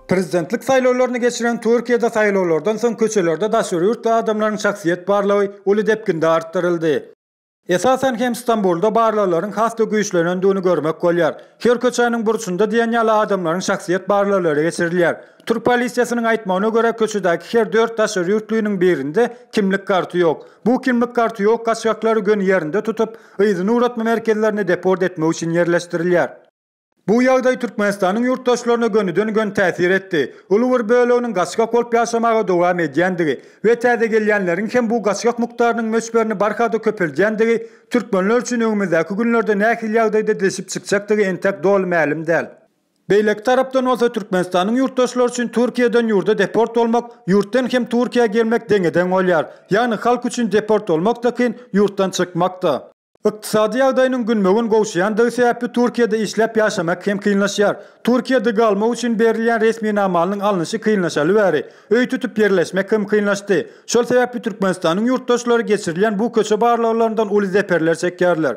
Prezidentlik saýlawlaryny geçiren Türkiýede saýlawlardan soň köçelerde daşary ýurtly adamlaryň şahsyýet barlagy uly depginde artdyryldy. Esasan hem Stambulda barlaglaryň has-da güýçlenendigini görmek bolýar. Her köçäniň burçunda diýen ýaly adamlaryň şahsyýet barlaglary geçirilýär. Türk polisiýasynyň aýtmagyna görä, köçedäki her dört daşary ýurtlynyň birinde kimlik karty ýok. Bu kimlik karty ýok gaçgaklary göni ýerinde tutup, yzyna ugratma merkezlerine deport etmek üçin ýerleşdirilýär. Bu ýagdaý Türkmenistanyň ýurtdaşlaryna gönüden-göni täsir etdi. Uly bir böleginiň gaçgak bolup ýaşamaga dowam edýändigi we täze gelýänleriň hem bu gaçgak mukdarynyň möçberini barha-da köpeldýändigi türkmenler üçin öňümizdäki günlerde nähili ýagdaýda didişip çykjakdygy entek doly mälim däl. Beýleki tarapdan bolsa Türkmenistanyň ýurtdaşlary üçin Türkiýeden ýurda deport bolmak, ýurtdan hem Türkiýä gelmek deňe-deň bolýar. Ýagny halk üçin deport bolmak-da kyn, ýurtdan çykmak-da. Ykdysady ýagdaýynyň günbe-gün gowşaýandygy sebäpli Türkiýede işläp ýaşamak hem kynlaşýar. Türkiýede galmak üçin berilýän resminamanyň alnyşy kynlaşaly bäri, öý tutup ýerleşmek hem kynlaşdy. Şol sebäpli Türkmenistanyň ýurtdaşlary geçirilýän bu köçe barlaglaryndan uly zeperler çekýärler.